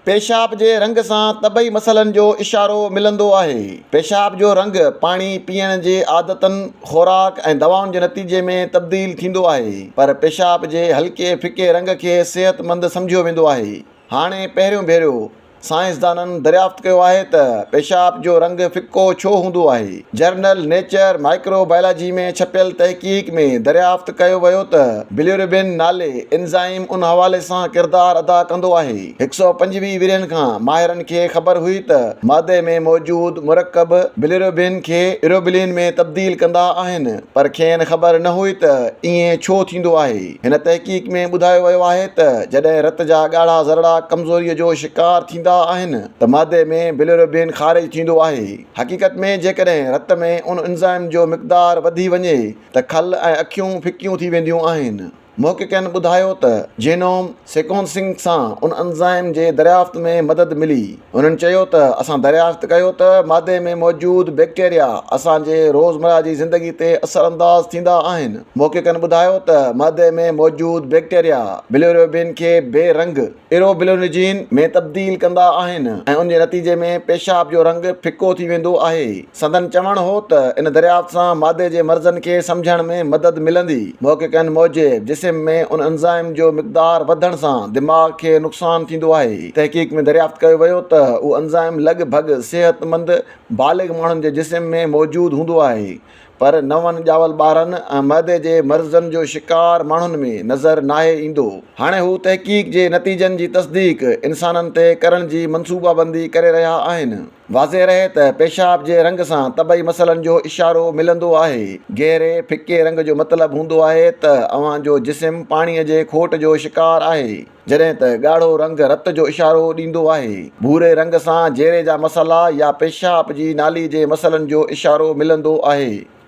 پيشاب جي رنگ سان طبعي مسئلن جو اشارو ملندو آهي. پيشاب جو رنگ پاڻي پيئڻ جي عادتن، خوراڪ ۽ دوائن جي نتيجي ۾ تبديل ٿيندو آهي، پر پيشاب جي هلڪي ڦڪي رنگ کي صحتمند سمجهيو ويندو آهي. هاڻي پهريون ڀيرو سائنسدانن دريافت ڪيو آهي ته پيشاب جو رنگ ڦڪو ڇو هوندو آهي. جرنل نيچر مائڪرو بائلاجي ۾ ڇپيل تحقيق ۾ دريافت ڪيو ويو ته بليوربين نالي انزائم ان حوالي سان ڪردار ادا ڪندو آهي. هڪ سؤ پنجويهه ورهين کان ماهرن کي خبر هئي ته معدي ۾ موجود مرڪب بليوربين کي ايروبلين ۾ تبديل ڪندا آهن پر کين خبر نه هئي ته ائين ڇو ٿيندو آهي. هن تحقيق ۾ ٻڌايو ويو آهي ته جڏهن رت جا ڳاڙها ذرڙا ڪمزوري جو شڪار ٿيندا آهن ته معدي ۾ بليوربين خارج ٿيندو آهي. حقيقت ۾ جيڪڏهن رت ۾ ان انزائم جو مقدار وڌي وڃي ته کل ۽ اکيون ڦڪيون ٿي وينديون آهن. محققن ٻڌايو ته جينوم سيڪونسنگ سان ان انزائم جي دريافت ۾ مدد ملي. هنن چيو ته اسان دريافت ڪيو ته معدي ۾ موجود بيڪٽيريا اسان جي روزمره جي زندگي تي اثرانداز ٿيندا آهن. محققن ٻڌايو ته معدي ۾ موجود بيڪٽيريا بليروبين کي بي رنگ، ايروبلونجين ۾ تبديل ڪندا آهن ۽ ان جي نتيجي ۾ پيشاب جو رنگ ڦڪو ٿي ويندو آهي. سندن چوڻ هو ته ان دريافت سان معدي جي مرضن کي سمجهڻ ۾ مدد ملندي. محققن موجب جسم ۾ ان انزائم جو مقدار وڌڻ سان دماغ کي نقصان ٿيندو آهي. تحقيق ۾ دريافت ڪيو ويو ته اهو انزائم لڳ ڀڳ صحتمند بالغ ماڻهن جي جسم ۾ موجود هوندو آهي پر نون ڄاول ٻارن ۽ معدي جي مرضن جو شڪار ماڻهن ۾ نظر ناهي ايندو. هاڻي هو تحقيق جي نتيجن جي تصديق انسانن تي ڪرڻ جي منصوبابندي ڪري رهيا آهن. واضح رهي ته پيشاب جي رنگ سان طبعي مسئلن جو اشارو ملندو آهي. گهري، ڦڪي رنگ جو مطلب هوندو آهي ته اوهان جو جسم پاڻيء جي کوٽ جو شڪار آهي. جڏهن ته ڳاڙهو رنگ رت جو اشارو ڏيندو آهي. ڀوري رنگ سان جيري جا مسئلا يا پيشاب جي نالي جي مسئلن جو اشارو ملندو آهي.